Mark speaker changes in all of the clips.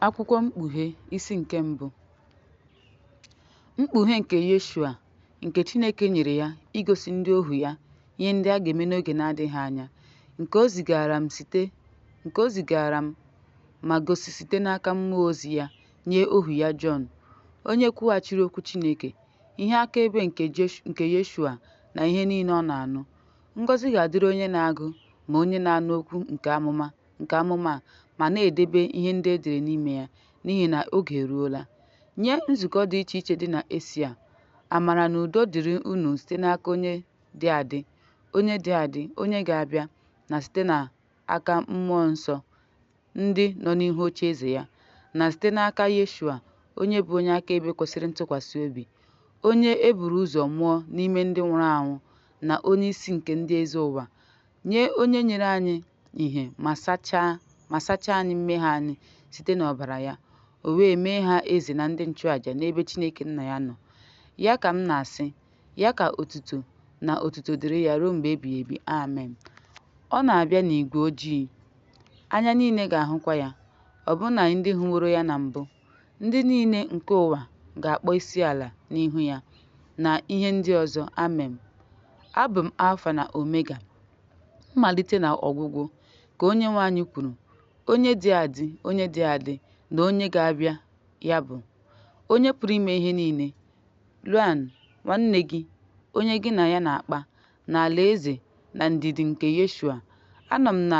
Speaker 1: Akwụkwọ Mkpughe isi nke mbụ Mkpughe nke Yeshua nke Chineke nyere ya igosi ndị ohu ya ihe ndị a ga-eme n'oge na-adịghị anya nke o zigaara m ma gosi site n'aka mmụọ ozi ya nye ohu ya Jọn onye kwughachiri okwu Chineke ihe akaebe nke Yeshua na ihe niile ọ na-anụ ngọzi ga-adịrị onye na-agụ ma onye na-anụ okwu nke amụma nke amụma a ma na-edebe ihe ndị e dere n'ime ya n'ihi na oge eruola. Nye nzukọ dị iche iche dị na Esia, amara na udo dịrị unu site n'aka onye dị adị, onye dị adị, onye ga-abịa, na site n'aka mmụọ nsọ ndị nọ n'ihu oche eze ya, na site n'aka Yeshua, onye bụ onye akaebe kwesịrị ntụkwasị obi, onye e buru ụzọ mụọ n'ime ndị nwụrụ anwụ na onye isi nke ndị eze ụwa, nye onye nyere anyị ihe ma sachaa anyị mmehie anyị site n'ọbara ya, o wee mee ha eze na ndị nchụaja n'ebe Chineke Nna ya nọ. Ya ka m na-asị, ya ka otuto na otuto dịrị ya ruo mgbe ebighị ebi. Amen. Ọ na-abịa n'igwe ojii, anya niile ga-ahụkwa ya, ọbụna ndị hụworo ya na mbụ. Ndị niile nke ụwa ga-akpọ isi ala n'ihu ya, na ihe ndị ọzọ. Amem. Abụ m Alfa na Omega, mmalite na ọgwụgwụ, ka Onyenwe anyị kwuru, onye dị adị, onye dị adị, na onye ga-abịa, ya bụ, Onye pụrụ ime ihe niile. Luan, nwanne gị, onye gị na ya na-akpa, na alaeze na ndidi nke Yeshua. Anọ m na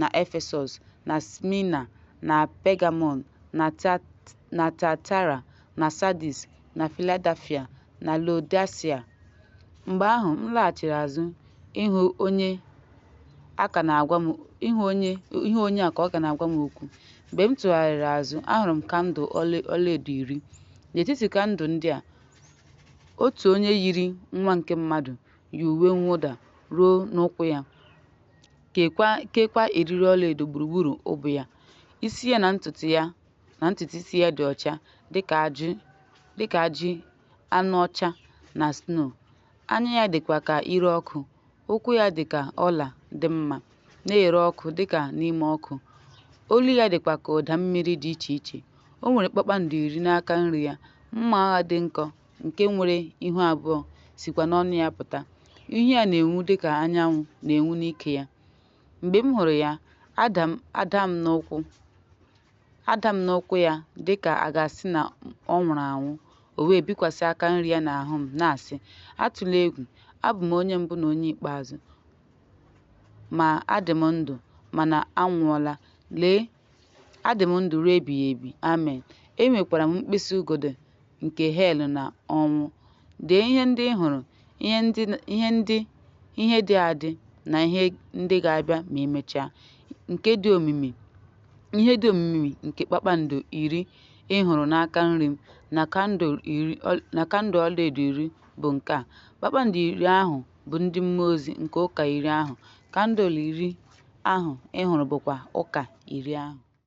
Speaker 1: na Efesọs, na Smina, na Pegamọn, na Tiatira, na Sadis, na Filadelfia, na Laodisia. Mgbe ahụ m laghachiri azụ ịhụ onye a ka ọ ka na-agwa m okwu. Mgbe m tụgharịrị azụ, ahụrụ m kandụl ọlaedo iri. N'etiti kandụl ndị a, otu onye yiri nwa nke mmadụ yi uwe mwụda ruo n'ụkwụ ya. Keekwa eriri ọlaedo gburugburu ubu ya. Isi ya na ntutu isi ya dị ọcha dịka ajị anụ ọcha na sno. Anya ya dịkwa ka ire ọkụ. Ụkwụ ya dị ka ọla dị mma, na-ere ọkụ dịka n'ime ọkụ. Olu ya dịkwa ka ụda mmiri dị iche iche. O nwere kpakpando iri n'aka nri ya, mma agha dị nkọ nke nwere ihu abụọ sikwa n'ọnụ ya pụta. Ihu ya na-enwu dị ka anyanwụ na-enwu n'ike ya. Mgbe m hụrụ ya, ada m n'ụkwụ ya dị ka a ga-asị na ọ nwụrụ anwụ. O wee bikwasị aka nri ya n'ahụ m, na-asị, Atụla egwu, abụ m onye mbụ na onye ikpeazụ. Ma adị m ndụ, mana anwụọla. Lee! Adị m ndụ ruo ebighị ebi. Amen. Enwekwara m mkpịsị ugodi nke hel na ọnwụ. Dee ihe ndị ị hụrụ, ihe dị adị na ihe ndị ga-abịa ma emechaa, nke dị omimi ihe dị omimi nke kpakpando iri ị hụrụ n'aka nri m na kandụl ọlaedo iri bụ nke a. Kpakpando iri ahụ bụ ndị mmụọ ozi nke ụka iri ahụ, kandụl iri ahụ ị hụrụ bụkwa ụka iri ahụ.